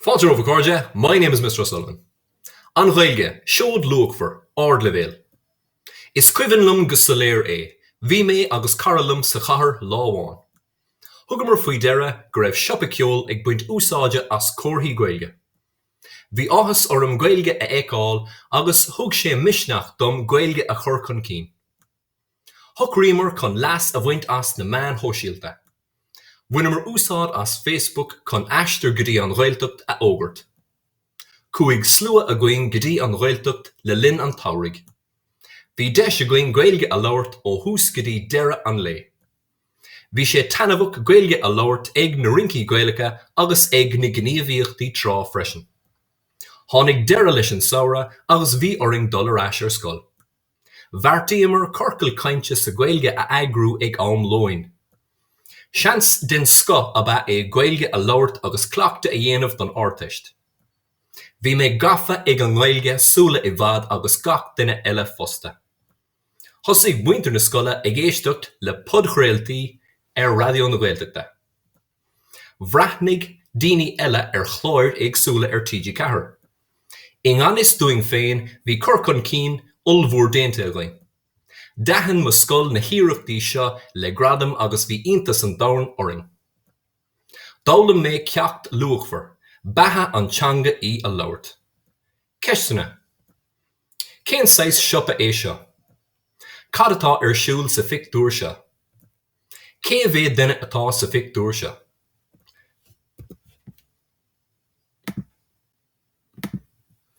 Fáilte romhaibh a chairde, My name is Mr O'Sullivan. An Ghaeilge, seod luachmhar, ardleibhéil. Is cuimhin liom go soiléir é, bhí mé agus cara liom sa chathair lá amháin. Thugamar faoi deara go raibh siopa ceoil ag baint úsáide as comharthaí Gaeilge. Bhí áthas orm Gaeilge a fheiceáil agus thug sé misneach dom Gaeilge a chur chun cinn. Shocraíomar chun leas a bhaint as na meáin shóisialta. Bhaineamar úsáid as Facebook chun aistear go dtí an Ghaeltacht a fhógairt. Chuaigh slua againn go dtí an Ghaeltacht le linn an tsamhraidh. Bhí deis againn Gaeilge a labhairt ó thús go dtí deireadh an lae. Bhí sé taitneamhach Gaeilge a labhairt ag na rincí Gaelacha agus ag na gníomhaíochtaí trá freisin. Tháinig deireadh leis an samhradh agus bhí orainn dul ar ais ar scoil. Bheartaíomar ciorcal cainte sa Gaeilge a eagrú ag am lóin. Seans den scoth ab ea é Gaeilge a labhairt agus cleachtadh a dhéanamh don Ardteist. Bhí mé gafa ag an nGaeilge sula i bhfad agus gach duine eile fosta. Thosaigh muintir na scoile ag éisteacht le podchraoltaí ar Raidió na Gaeltachta. Bhreathnaigh daoine eile ar chláir éagsúla ar TG4. I ngan fhios dúinn féin bhí cur chun cinn ollmhór déanta againn. D'aithin mo scoil na hiarrachtaí seo le gradam agus bhí iontas an domhain orainn. D'fhoghlaim mé ceacht luachmhar, beatha an teanga í a labhairt. Ceisteanna, Cén saghas siopa é seo? Cad atá ar siúl sa phictiúr seo? Cé mhéad duine atá sa phictiúr seo?